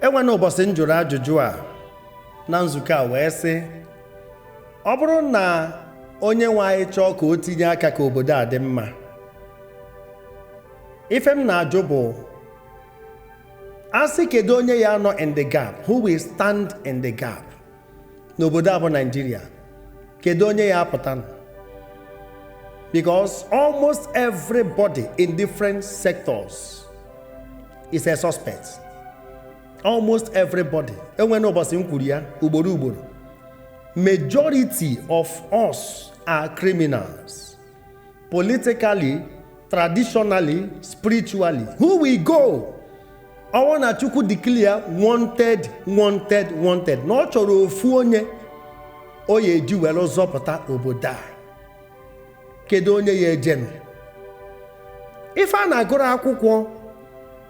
enwene ụbọchị m jụrụ ajụjụ a na nzukọ a wee sị ọ bụrụ na onye nwe anyị chọọ ka o tinye aka ka obodo a dị mma ife m na-ajụ bụ a sị kedu onye ya anọ in the gap who will stand in the gap n'obodo a bụ Nigeria kedu onye ya apụta nụ? because almost everybody in different sectors is a suspect almost everybody enwere ụbọchị m kwuru ya ugboro ugboro majority of us are criminals politically traditionally spiritually who will go ọ wụ na chukwu declare wanted wanted wanted na ọ chọrọ ofu onye o ya eji were zọpụta obodo a kedu onye ya ejenu ife a na-agụrụ akwụkwọ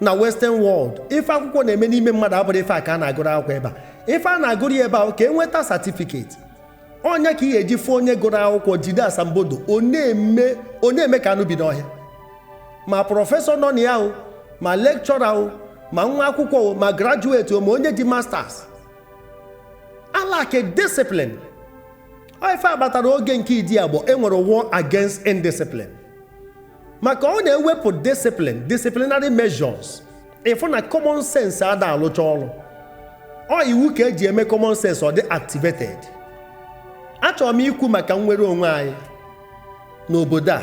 na western world ife akwụkwọ na-eme n'ime mmadụ abụrọ ife a ka a na-agụrụ akwụkwọ ebe a ife a na-agụrụ ya ebe a ka e nweta certificate ọ ya ka ị ga-eji fụ onye gụrụ akwụkwọ jide asambodo ọ na-eme ka anụ bi n'ọhịa ma prọfesọ nọ na ya o ma lecturer o ma nwa akwụkwọ o ma graduate o ma onye ji masters a lack discipline ife a kpatara oge nke Idiagbon enwere war against indiscipline maka ọ na e wepụ discipline disciplinary measures ị fụ na common sense ada alụcha ọrụ ọ iwu ka eji eme common sense ọ dị activated achọrọ m ikwu maka nnwere onwe anyị n'obodo a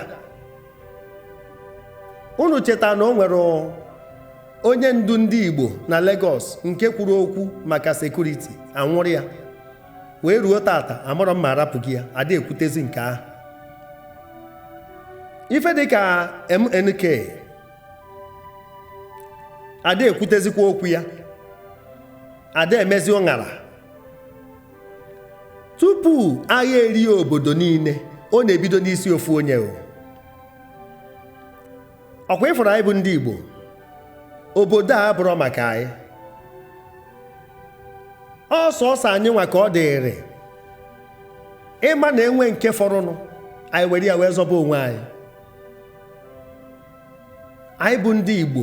unu cheta na o nwere onye ndu ndị Igbo na Lagos nke kwuru okwu maka security anwụrụ ya wee ruo tata amarọ m ma arapụgo ya ada ekwutezi nke ahụ ife dịka MNK ada ekwutezikwa okwu ya ada emezi ụṅara tupu agha erie obodo niile ọ na-ebido n'isi ofu onye o ọ kwa ị fụrụ anyị bụ ndị Igbo obodo a abụrọ maka anyị ọ sọsọ anyị nwa ka ọ dịrị ịma na enwe nke fọrọnụ anyị were ya wee zọba onwe anyị anyị bụ ndị Igbo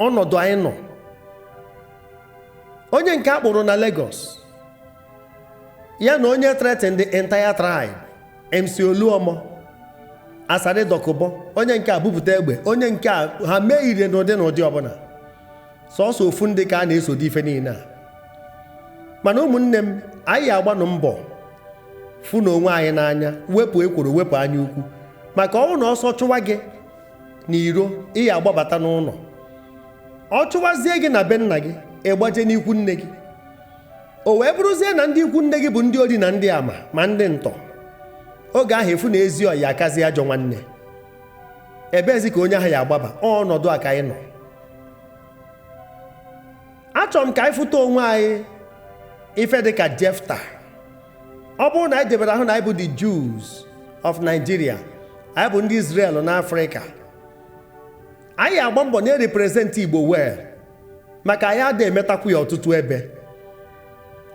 ọnọdụ anyị nọ onye nke a kpụrụ na Lagos ya na onye threaten the entire tribe MC Oluomo Asari Dokubo onye nke a bupụta egbe onye nke a ha mee ire n'ụdị n'ụdị ọbụla sọsọ ofu ndị ka a na-eso dị ife niine a mana ụmụnne m anyị agbanụ mbọ fụ na onwe anyị n'anya wepụ ekworo wepụ anya ukwu maka ọnwụ na ọsọ chụwa gị na iro ị ya agbabata n'ụnọ ọ chụwazie gị na be nna gị ị gbaje n'ikwu nne gị o wee bụrụzie na ndị ikwu nne gị bụ ndị ori na ndị ama ma ndị ntọ oge ahụ ị fụ na ezi ọyị akazi ajọ nwanne ebeezi ka onye ahụ ya agbaba ọnọdụ a ka anyị nọ achọrọ m ka anyị fụta onwe anyị ife dị ka jefta ọ bụrụ na anyị debere ahụ na anyị bụ the Jews of Nigeria anyị bụ ndị Israel n'Afrịka anyị ya agba mbọ na-erepresent Igbo well maka anyị ada emetakwu ya ọtụtụ ebe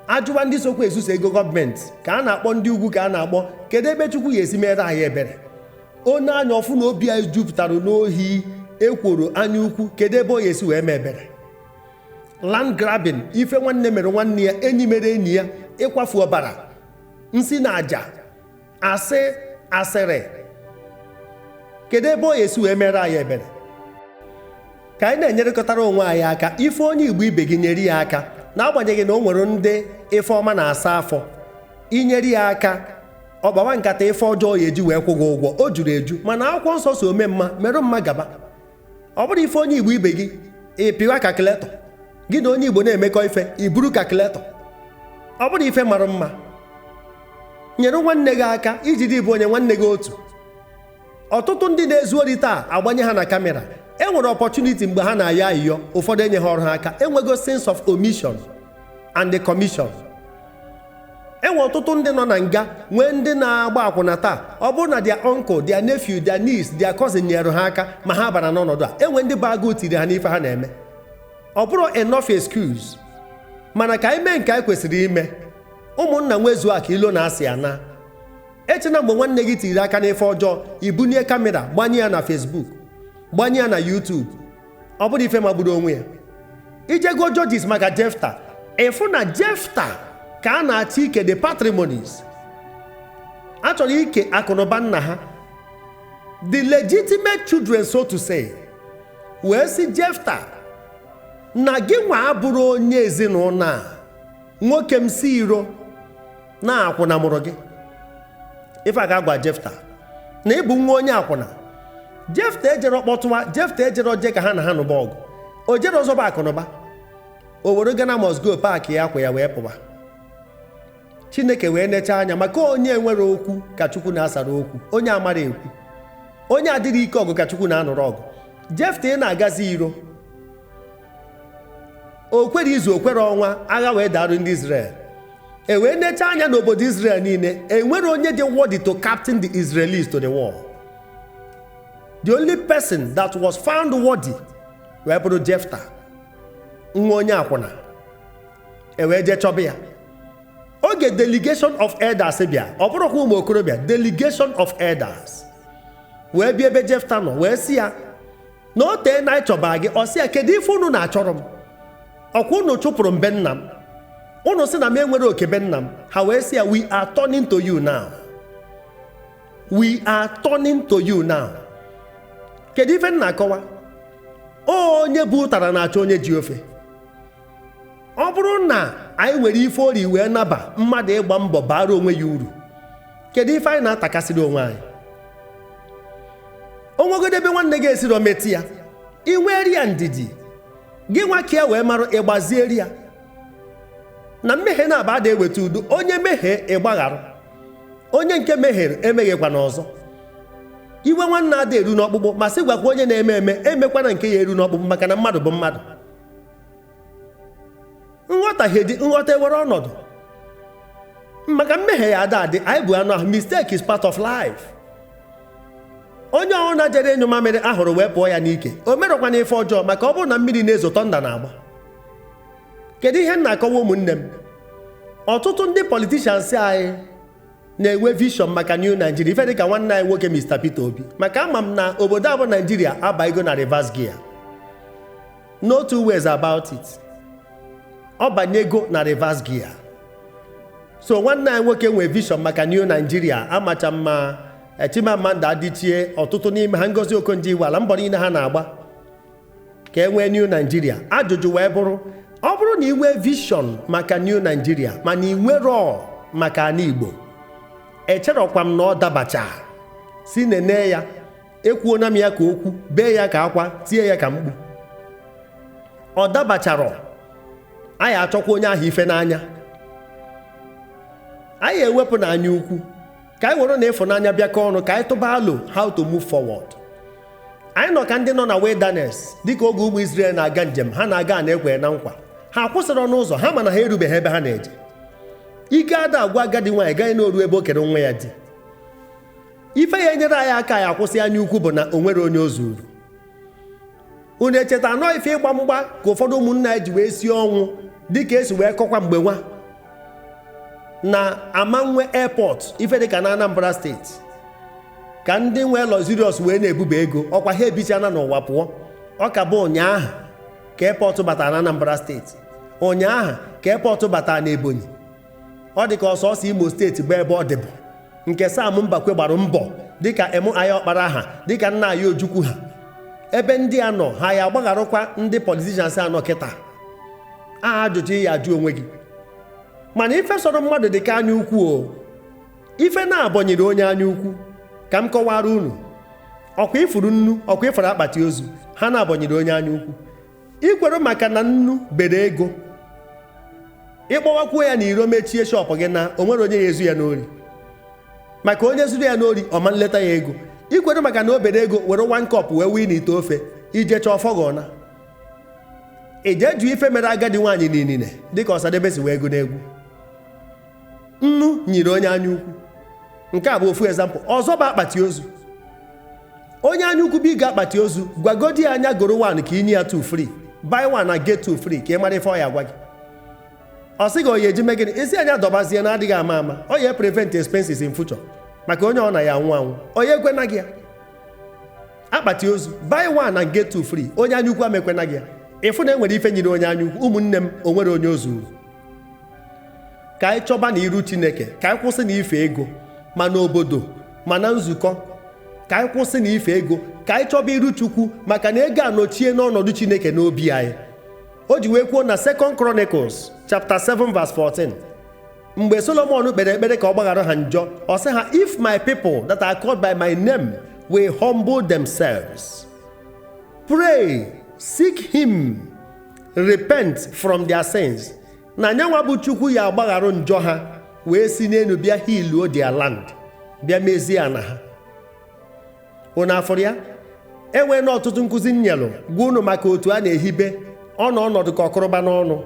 a jụwa ndị sokwa ezuso ego gọọmenti ka a na-akpọ ndị ugwu ka a na-akpọ kedu ebe chukwu ya esi meere anyị ebere o nee anya ọ fụ na obi anyị jupụtara n'ohi ekworo anya ukwu kedu ebe ọ ya esi wee mee ebere land grabbing ife nwanne mere nwanne ya enyi mere enyi ya ịkwafu ọbara nsi na aja asị asịrị kedu ebe ọ ya esi wee meere anyị ebere ka anyị na-enyerekọtara onwe anyị aka ị fụ onye igbo ibe gị nyere ya aka n'agbanyeghị na o nwere ndị ife ọma na-asa afọ i nyere ya aka ọ gbawa nkata ife ọjọọ ọ ya eji wee kwụ gị ụgwọ o juru eju mana akwụkwọ nsọ sị ome mma merụ mma gaba ọ bụrọ ị fụ onye igbo ibe gị ị pịwa calculator gị na onye igbo na-emekọ ife i buru calculator ọ bụrọ ife mara mma nyere nwanne gị aka i ji dị ịbụọ nye nwanne gị otu ọtụtụ ndị na-ezu ori taa a gbanye ha na kamera e nwere opportunity mgbe ha na-ayọ ayịyọ ụfọdụ enye ha ọrụ ha aka e nwego sins of omission and the commission e nwee ọtụtụ ndị nọ na nga nwee ndị na-agba akwụna taa ọ bụrụ na their uncle their nephew their niece their cousin nyere ha aka ma ha bara n'ọnọdụ a e nwee ndị bụ agụụ tiri ha n'ife ha na-eme ọ bụrọ enough excuse mana ka anyị mee nke anyị kwesịrị ime ụmụnna nwezuo akụ ilo na asị anaa echena mgbe nwanne gị tiri aka n'ife ọjọọ i bunie kamera gbanye ya na Facebook gbanye ya na YouTube ọ bụrụ ife magburu onwe ya i jee gụọ Judges maka jefta ị fụ na jefta ka a na-achọ ike the patrimonies a chọrọ ike akụnụba nna ha the legitimate children so to say wee sị jefta na gị nwa abụrọ onye ezinụnọ a nwoke m si iro na akwụna mụrụ gị ife a ga-agwa jefta na ị bụ nwa onye akwụna jefta ejero kpọtụwa jefta ejero je ka ha na ha nụba ọgụ o jero zọba akụnụba o were Ghana must go paakịa akwa ya wee pụba chineke wee necha anya maka onye enwero okwu ka chukwu na-asara okwu onye amarọ ekwu onye adịrọ ike ọgụ ka chukwu na-anụrụ ọgụ jefta ị na-agazi iro o kwere izu o kwere ọnwa agha wee darụ ndị Izrel e wee necha anya n'obodo Izrel niile enwero onye dị worthy to captain the Israelis to the war the only person that was found worthy wee bụrụ Jefta nwa onye akwụna e wee jee chọba ya oge delegation of elders bịa ọ bụrọkwa ụmụ okorobịa delegation of elders wee bịa ebe Jefta nọ wee sị ya na o teena anyị chọba gị ọ sị ya kedu ife unu na-achọrọ m ọ kwa unu chụpụrụ m be nna m unu sị na m enwero oke be nna m ha wee sị ya we are turning to you now we are turning to you now kedu ife m na-akọwa onye bu ụtara na-achọ onye ji ofe ọ bụrụ na anyị nwere ife ori wee naba mmadụ ịgba mbọ baara onwe ya uru kedu ife anyị na-atakasịrị onwe anyị o nwegodu ebe nwanne gị esiro meti ya i nweri ya ndidi gị nwa ka ya wee mara ị gbazieri ya na mmehie naabọ ada eweta udo onye mehie ị gbaghara onye nke mehiere emehiekwana ọzọ iwe nwanne ada eru n'ọkpụkpụ ma sị gwakwa onye na-eme eme emekwana nke ya eru n'ọkpụkpụ maka na mmadụ bụ mmadụ nghọtahie dị nghọta ewere ọnọdụ maka mmehie ya ada adị anyị bu anụ ahụ mistake is part of life onye ọ bụna jere ịnyụ mamịrị ahụrụ wee pụọ ya n'ike o merọkwana ife ọjọọ maka ọ bụrụ na mmiri na-ezo thunder na-agba kedu ihe m na-akọwa ụmụnne m ọtụtụ ndị politicians anyị na-enwe vision maka New Nigeria ife dịka nwanne anyị nwoke Mr. Peter Obi maka ama m na obodo a bụ Nigeria abanyego na reverse gear no two ways about it ọ banyego na reverse gear so nwanne anyị nwoke nwee vision maka New Nigeria amacha mma Chimamanda Adichie ọtụtụ n'ime ha Ngozi Okonjo-Iweala mbọ niile ha na-agba ka e nwee New Nigeria ajụjụ wee bụrụ ọ bụrụ na i nwee vision maka New Nigeria mana i nwero maka ana Igbo echerọkwa m na ọ dabachasị nene ya ekwuona m ya ka okwu bee ya ka akwa tie ya ka mkpu ọ dabacharọ anyị achọkwa onye ahụ ife n'anya anyị ewepụ na anya ukwu ka anyị were na ịfụnanya bịakọ ọnụ ka anyị tụba alo how to move forward anyị nọ ka ndị nọ na wilderness dịka oge ụmụ Israel na-aga njem ha na-aga ana e kwere na nkwa ha akwụsịrọ n'ụzọ ha mana ha erubeghị ebe ha na-eje ike ada agwụ agadi nwaanyị gaghị na-oru ebe o kere nwa ya di ife ya enyere anyị aka anyị akwụsị anya ukwu bụ na o nwero onye o zuuru unu echeta na ọ ife ịgba mgba ka ụfọdụ ụmụnna anyị ji wee sie ọnwụ dịka esi wee kọkwa mgbe nwa na ama nwe airport ife dịka na anambra steeti ka ndị nwe luxurious wee na-ebuba ego ọkwa ha ebichana n'ụwa pụọ ọ ka bụ ụnyaahụ ka airport batara na anambra steeti ụnyaahụ ka airport batara na ebonyi ọ dị ka ọ sọsọ imo steeti bụ ebe ọ dịbụ nke sam mbakwe gbara mbọ dịka M.I. ọkpara ha dịka nna anyị ojukwu ha ebe ndị a nọ ha ya agbagharụkwa ndị politicians a nọ kịta a ajụjụ ị ya ajụ onwe gị mana ife sọrọ mmadụ dị ka anya ukwu o ife naabọ nyiri onye anya ukwu ka m kọwara unu ọkwa ị fụrụ nnu ọkwa ị fụrụ akpati ozu ha naabọ nyiri onye anya ukwu i kwero maka na nnu bere ego ịkpọwakwuo ya na iro mechie shop gị na o nwere onye ya ezu ya n'ori maka onye zuru ya n'ori ọ ma nleta ya ego i kwero maka na o bere ego were one cup wee wee n'ite ofe ije chọọ fọgọna ije jụ ife mere agadi nwaanyị niile dịka osadebe si wee gụọ n'egwu nnu nyiri onye anya ukwu nke a bụ ofu example ọzọ bụ akpati ozu onye anya ukwu bịa ịgọ akpati ozu gwagodi ya nya goro one ka i nye ya two free buy one and get two free ka ị mara ife ọ ya gwa gị ọ sị gị ọ ya eji mee gịnị ị sị ya nya dọbazie na adịghị ama ama ọ ya prevent expenses in future maka onye ọ na ya anwụ anwụ ọ ya ekwena gị ya akpati ozu buy one and get two free onye anya ukwu ama ekwena gị ya ị fụ na enwere ife nyiri onye anya ukwu ụmụnne m o nwere onye o zuru ka anyị chọba na iru chineke ka anyị kwụsị na ife ego ma n'obodo ma na nzukọ ka anyị kwụsị na ife ego ka anyị chọba iru chukwu maka na ego anọchie n'ọnọdụ chineke n'obi anyị o ji wee kwuo na Second Chronicles chapter 7 verse 14 mgbe solomon kpere ekpere ka ọ gbaghara ha njọ ọ sị ha if my people that are called by my name will humble themselves pray seek him repent from their sins na nya nwa bụ chukwu ya agbagharụ njọ ha wee si n'elu bịa healuo their land bịa mezie ana ha unu afụrụ ya enwee na ọtụtụ nkụzi nyelụ gwa unu maka otu a na-ehibe ọnụ ọnọdụ ka ọkụrụba n'ọnụ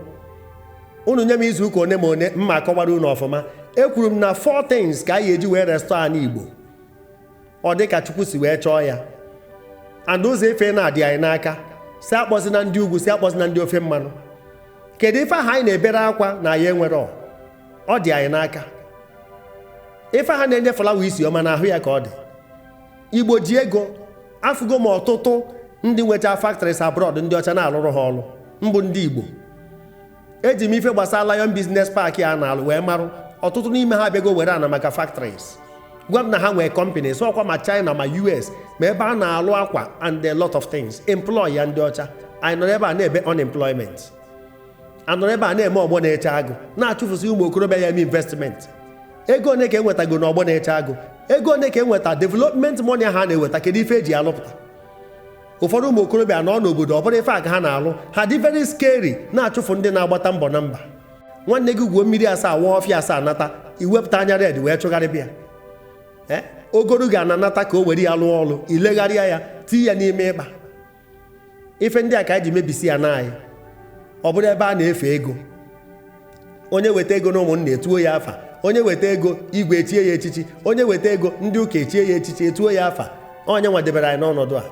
unu nye m izu ụka one ma one mma akọwara unu ọfụma ekwuru m na four things ka anyị eji wee restore ana Igbo ọ dị ka Chukwu si wee chọọ ya and ụzọ ife na-adị anyị n'aka si akpọzina ndị ugwu si akpọzina ndị ofe mmanụ kedu ife aha anyị na-ebere akwa na anyị enwero ọ dị anyị n'aka ife aha na-enye flower isi ọma na ahụ ya ka ọ dị igbo ji ego afụgo m ọtụtụ ndị nwecha factories abroad ndị ọcha na-alụrụ ha ọrụ bụ ndị igbo eji m ife gbasara Lion Business Park a na-alụ wee marụ ọtụtụ n'ime ha abịago were ana maka factories gwa m na ha nwee companies ọkwa ma China ma US ma ebe a na-alụ akwa and a lot of things employ ya ndị ọcha anyị nọrọ ebe a na-ebe unemployment a nọrọ ebe a na-eme ọgbọ na-eche agụ na-achụfụsị ụmụ okorobịa ya-eme investment ego one ka e nwetago na ọgbọ na-eche agụ ego one ka e nweta development money ha na-eweta kedu ife e ji alụpụta ụfọdụ ụmụ okorobịa nọ n'obodo ọ bụrụ ife a ka ha na-alụ ha dị very scary na-achụfụ ndị na-agbata mbọ na mba nwanne gị gwuo mmiri asaa waa ọfịa asaa nata i wepụta anya red wee chụgharịba ya eh? o goro gị ana nata ka o were ya lụọ ọlụ i legharịa ya tii ya n'ime ịkpa ife ndị a ka anyị ji mebisia ana anyị ọ bụrụ ebe a na-efe ego onye weta ego na ụmụnna etuo ya afa onye weta ego igwe echie ya echichi onye weta ego ndị ụka echie ya echichi etuo ya afa ọ nya nwa debere anyị n'ọnọdụ a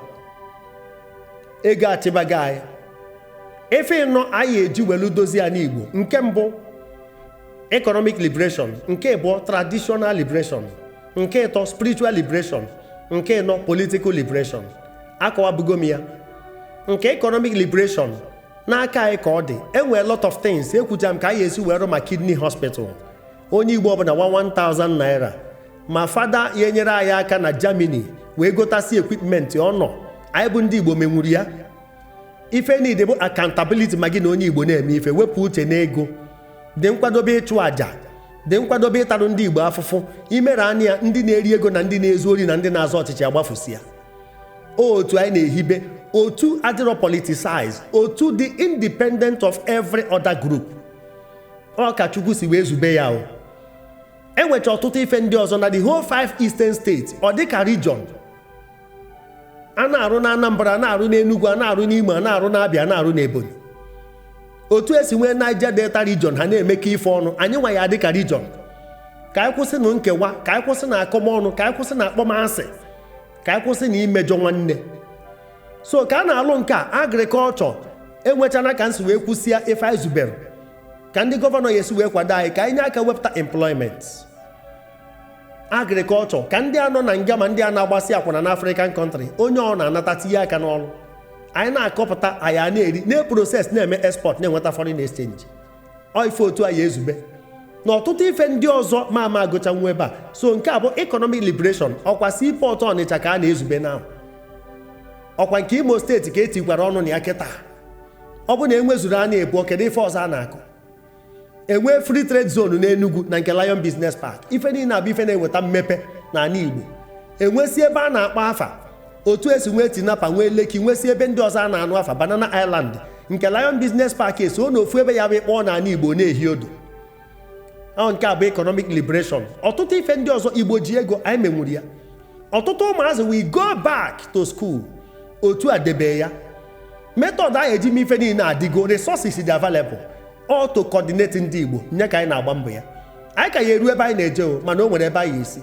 ego achịbago anyị ife ịnọ anyị eji welu dozie ana igbo nke mbụ economic liberation nke abụọ traditional liberation nke ịtọ spiritual liberation nke ịnọ political liberation akọwabugo m ya nke economic liberation n'aka anyị ka ọ dị e nwee lot of things ekwuchaa m ka anyị esi wee rụ ma kidney hospital onye igbo ọbụna 1000 naira ma fada ya-enyere anyị aka na germany wee gotasi equipment ọ nọ anyị bụ ndị igbo menwuru ya ife niile bụ accountability ma gị na onye igbo na-eme ife wepụ uche n'ego dị nkwadobe ịchụ àjà dị nkwadobe ịtarụ ndị igbo afụfụ i mere anịa ndị na-eri ego na ndị na-ezu ori na ndị na-azọ ọchịchị agbafusia otu anyị na-ehibe otu adịrọ politicized otu dị independent of every other group ọ ka chukwu si wee zube ya o e nwechaa ọtụtụ ife ndị ọzọ na the whole five eastern states ọ dịka region a na-arụ na Anambra a na-arụ n'Enugu a na-arụ n'Imo a na-arụ n'Abịa a na-arụ n'Ebonyi otu e si nwee Niger Delta region ha na-emekọ ife ọnụ anyị nwa ya-adị ka region ka anyị kwụsịnụ nkewa ka anyị kwụsịnụ akọmọnụ ka anyị kwụsịnụ akpọmasị ka anyị kwụsịnụ imejọ nwanne so ka a na-alụ nke a agrikọlchọ e nwechaana ka m si wee kwusia ife anyị zubere ka ndị gọvanọ ya-esi wee kwado anyị ka anyị nye aka wepụta employment agrikọlchọ ka ndị a nọ na nga ma ndị a na-agbasị akwụna na African country onye ọna anata tinye aka n'ọrụ anyị na-akọpụta anyị ana-eri na-eproses na-eme export na-enweta foreign exchange ọ ife otu anyị ezube na ọtụtụ ife ndị ọzọ m ama agụchanwu ebe a so nke a bụ economic liberation ọkwa seaport ọnịcha ka a na-ezube na ọkwa nke imo steeti ka e tikwara ọnụ na ya kịta ọ bụ na e nwezuru ha n'ịbụọ kedu ife ọzọ a na-akọ enwee free trade zone n'Enugu na nke Lion Business Park ife niile a bụ ife na-eweta mmepe n'ana Igbo enwesi ebe a na-akpọ afa otu esi nwee Tinapa nwee Lekki nwesi ebe ndị ọzọ a na-anụ afa Banana Island nke Lion Business Park eso n'ofu ebe ya abụ akpọọ n'ana Igbo na-ehi odo ọ nke a bụ economic liberation ọtụtụ ife ndị ọzọ Igbo ji ego anyị menwuru ya ọtụtụ ụmụazị wee go back to school otu a debe ya method anyị eji mee ife niile adịgo resources dị available all to coordinate ndị Igbo nye ka anyị na-agba mbọ ya anyị ka ya eru ebe anyị na-eje o mana o nwere ebe anyị esi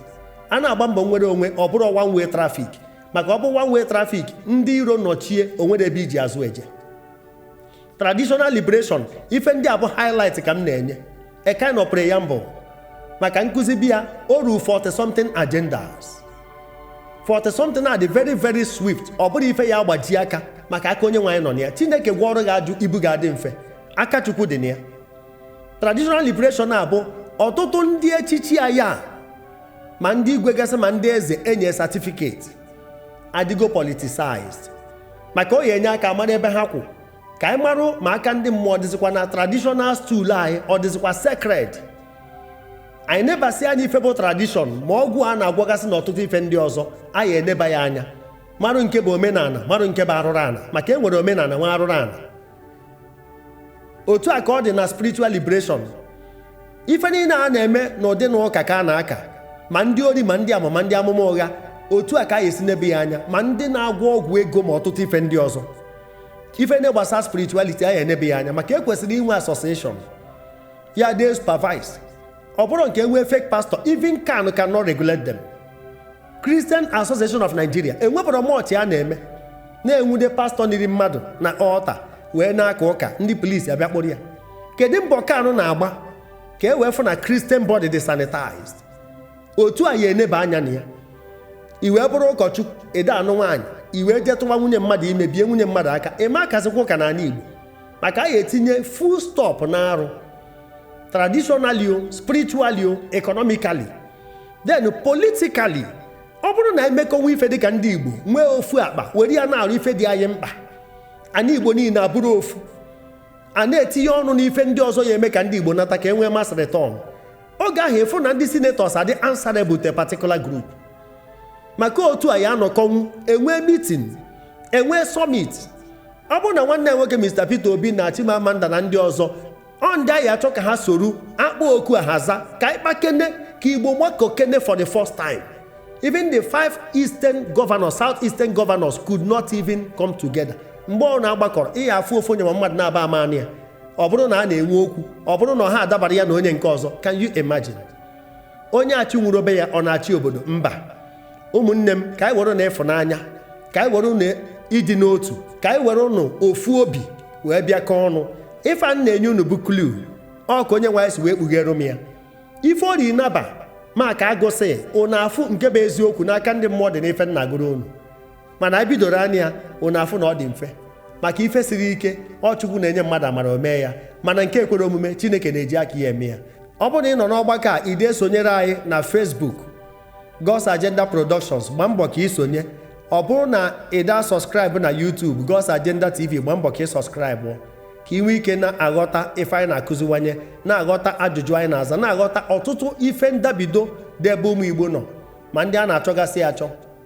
a na-agba mbọ mnwere onwe ọ bụrọ one way traffic maka ọ bụrụ one way traffic ndị iro nọchie o nwerọ ebe e ji azụ eje traditional liberation ife ndị a bụ highlight ka m na-enye a kind of preamble maka nkụzi bịa o ruru 40 something agendas 40 something a dị very very swift ọ bụrọ ife ya agbaji aka maka aka Onyenweanyị nọ na ya chineke gwọọrọ gị aju ibu ga-adị mfe aka chukwu dị na ya traditional liberation a bụ ọtụtụ ndị echichi a ya ma ndị igwe gasị ma ndị eze enye certificate adịgo politicized maka ọ ya enye aka amara ebe ha kwụ ka anyị marụ ma aka ndị mmụọ ọ dịzikwa na traditional stool anyị ọ dịzikwa sacred anyị nebasị anya ife bụ tradition ma ọgwụ a na-agwọgasị na ọtụtụ ife ndị ọzọ anyị eneba ya anya marụ nke bụ omenana marụ nke bụ arụrụ ana maka e nwere omenana nwee arụrụ ana otu a ka ọ dị na spiritual liberation ife niile a na-eme n'ụdị na ụka ka a na-aka ma ndị ori ma ndị ama ma ndị amụma ụgha otu a ka anyị esi nebe ya anya ma ndị na-agwọ ọgwụ ego ma ọtụtụ ife ndị ọzọ ife ndị gbasara spirituality anyị enebe ya anya maka ekwesịrị inwe association ya dey supervise ọ bụrụ nke e nwee fake pastor even CAN cannot regulate them Christian Association of Nigeria enwebụrọ much ha na-eme na enwude pastọ niri mmadụ na altar wee na-aka ụka ndị polisi abịa kpụrụ ya kedu mbọ CAN na-agba ka e wee fụ na Christian body dị sanitized otu a ya eneba anya na ya i wee bụrụ ụkọchukwu adị anụ nwaanyị i wee jee tụwa nwunye mmadụ ime bie nwunye mmadụ aka ịma akazikwa ụka n'ana Igbo maka a ya etinye full stop na arụ traditionally o spiritually o economically then politically ọ bụrụ na emekọnwu ife dịka ndị Igbo nwee ofu akpa were ya na-arụ ife dị anyị mkpa ana Igbo niile abụrụ ofu a na-etinye ọnụ n'ife ndị ọzọ ya eme ka ndị Igbo nata ka e nwee mass return oge ahụ ịfụ na ndị senators adị answerable to a particular group maka otu a ya anọkọnwu enwee meeting enwee summit ọ bụrụ na nwanne nwoke Mr Peter Obi na Chimamanda na ndị ọzọ ọ ndị anyị achọ ka ha soro akpọ oku a ha aza ka anyị kpakene ka Igbo gbakọkene for the first time even the five eastern governors south eastern governors could not even come together mgbe ọ na-agbakọrọ ị ya afụ ofu onye ma mmadụ naabọ ama nọ ya ọ bụrụ na a na-enwe okwu ọ bụrụ na ọ ha adabara ya na onye nke ọzọ can you imagine onye achịnwurọ be ya ọ na-achị obodo mba ụmụnne m ka anyị werenụ ịfụnanya ka anyị werenụ ịdị n'otu ka anyị werenụ ofu obi wee bịakọ ọnụ ife a na-enye unu bụ clue ọ ka Onyenwe anyị si wee kpughere m ya ife ori naba maka agụsị unu afụ nke bụ eziokwu na aka ndị mmụọ dị n'ife m na-agụrụ unu mana anyị bidoro anya ya unu afụ na ọ dị mfe maka ife siri ike ọ Chukwu na-enye mmadụ amara o mee ya mana nke ekwerọ omume Chineke na-eji aka ya eme ya ọ bụrụ na ị nọ n'ọgbakọ a ị de esonyere anyị na Facebook God's Agenda Productions gbaa mbọ ka ị sonye ọ bụrụ na ị daa subscribe na YouTube God's Agenda TV gbaa mbọ ka ị subscribe ka ị nwee ike na-aghọta ife anyị na-akụziwanye na-aghọta ajụjụ anyị na-aza na-aghọta ọtụtụ ife ndabido dị ebe ụmụ Igbo nọ ma ndị a na-achọgasị achọ